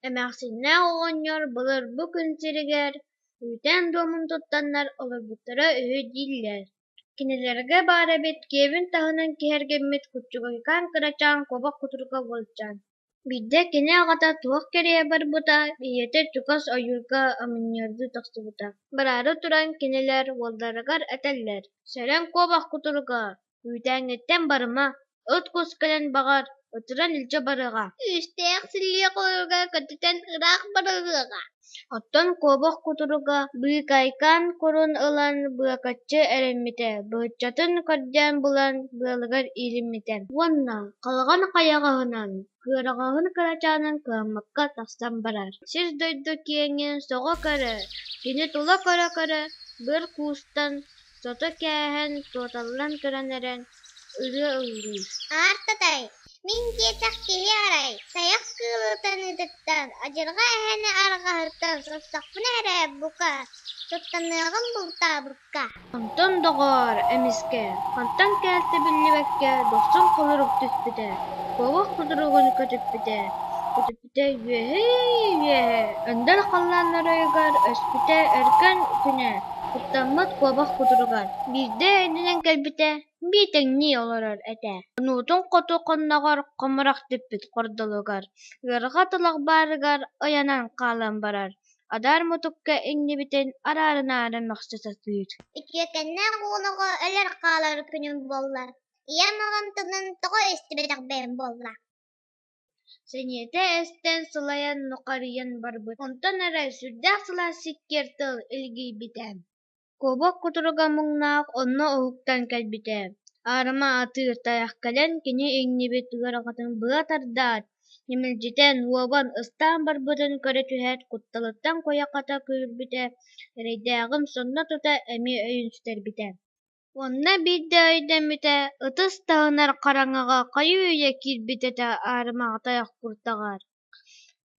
Эмээхсиннээх оҕонньор былыр бу күн сиригэр күүтэн дуомун туттаннар олорбуттара үһү дииллэр Кинилэргэ баар эбит киэбин таһынан киһэргэммит куччугайкаан кырачаан куобах кутурука уолдьан. Биирдэ кини аҕата туох кэриэһэ барбыта, ийэтэ чугас ойуурга оменньордуу тахсыбыта. Бараары туран кинилэр уолларыгар этэллэр: «Сэрэн куобах кутуруга, үүтээҥҥиттэн барыма» Ыт кус кэлэн баҕар, ытыран илдьэ барыаҕа. Үүстээх силлиэ хойууга көтүтэн ыраах барыаҕа. Оттон куобах кутуруга быыкайкаан курун ылан быакаччы эрэммитэ, быыччатын көрдөөн булан быалыгар иилиммитэ уонна халҕан хайаҕаһынан, кыараҕаһын кырачаанын кыаммакка тахсан барар. Сир-дойду киэҥин соҕо көрө, кини тула көрө-көрө, быр куустан, сото кээһэн, туоталлан туран эрэн, Аартатай, мин диэтэх киһи арай, тайах кыылытаныытыттан, адьырҕа эһэни арҕаһыттан сотсохпуна эрэ, бука, суттаныаҕым бултаабыкка. Онтон, доҕоор, эмискэ, хантан кэлтэ биллибэккэ, дохсун холорук түспүтэ, куобах кутуругун көтүппүтэ Өскөтө үөһээ-үөһээ, өндөр халлаан оройугар, өскөтө өркөн күнэ, куттаммыт куобах кутуругар, биирдэ өйдөнөн кэлбитэ биэтэҥнии олорор этэ, кунуутун хоту хонноҕор хомурук түппүт хордолугар, ыарҕа тулах баарыгар ойонон хаалан барар, адаар мутукка иҥнибитин араарынаары мөхсө сатыыр Үтүөкэннээх уолуга өлөр-хаалар күнүм буолла, ийэм оронтонон тоҕо истибэтэх бэйэм буолла Сэниэтэ эстэн, сылайан нухарыйан барбыт. Онтон эрэ сүрдээх сылаас сиккиэр тыл илгийбитэ. Куобах кутуруга муҥнаах онно уһуктан кэлбитэ. Аарыма атыыр тайах кэлэн кини иҥнибит ыарахатын быа тардаат, ньимэлдьитэн, уобан ыстаан барбытын көрө түһээт, кутталыттан куйахата күүрбүтэ, эрэйдээҕим сонно тута эмиэ өйүн сүтэрбитэ Уонна биирдэ өйдөммүтэ, ытыс таһынар хараҥаҕа хайыы үйэ киирбит этэ аарымаҕатайах куртаҕар.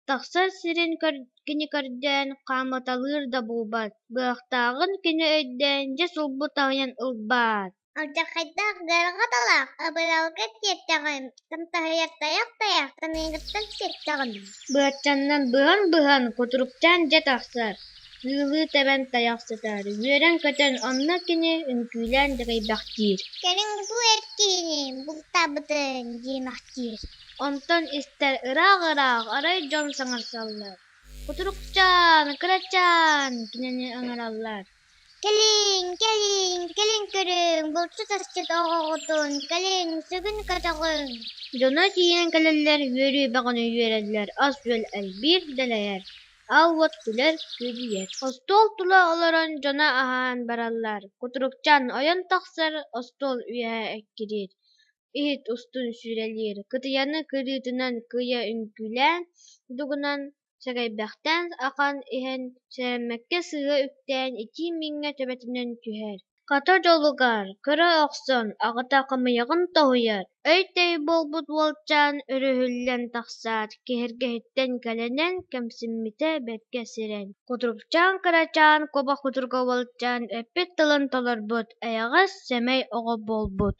Тахсар сирин көр- кини көрдөөн хаамыталыыр да буолбат, быһахтааҕын кини өйдөөн дьэ сулбу таһыйан ылбаат. Алдьархайдаах Гаарҕаталаах абыралга кииртэҕим Тым таһыйар тайах тайахтан ыйыгыттан сиртэҕинэ быаччаннан быһан-быһан кутуруктаан дьэ тахсар, ыылыы тэбэн тайах сытар, үөрэн-көтөн онно кини үҥкүүлээн дэгэйбэхтиир. Кэлин бу эр киһини бултаабытын диэмэхтиир. Онтон истэр ыраах-ыраах арай дьон саҥарсаллар, кутуруктаан, кырачаан кинини ыҥыраллар. Кэлиҥ, кэлиҥ, кэлин көрүҥ, булчут-асчыт оҕоҕутун, кэлин сүгүн-көтөҕүҥ дьоно тиийэн кэлэллэр, үөрүү бөҕөнү үөрэллэр, ас-үөл элбиир, дэлэйэр, аал-уот күлэр, күөдьүйэр. Остуол тула олорон дьоно аһаан бараллар, кутурукчан ойон тахсар, остуол үөһэ эккириир, иһит устун сүүрэлиир, кытыйаны кырыытынан кыйа үҥкүүлээн, дугунан Сэгэйбэхтээн ахан иһэн сэрэммэккэ сыыһа үктээн итии мииҥҥэ төбөтүнэн түһэр. Хата дьолугар көрө охсон аҕата хымыйаҕын тоһуйар, өй-төй буолбут уолчаан өрүһүллэн тахсаат киһиргэһиттэн кэлэнэн кэмсиммитэ бэркэ сирэн, кутурупчаан кырачаан куба кутурга уолчаан эппит тылын толорбут эйэҕэс сэмэй оҕо буолбут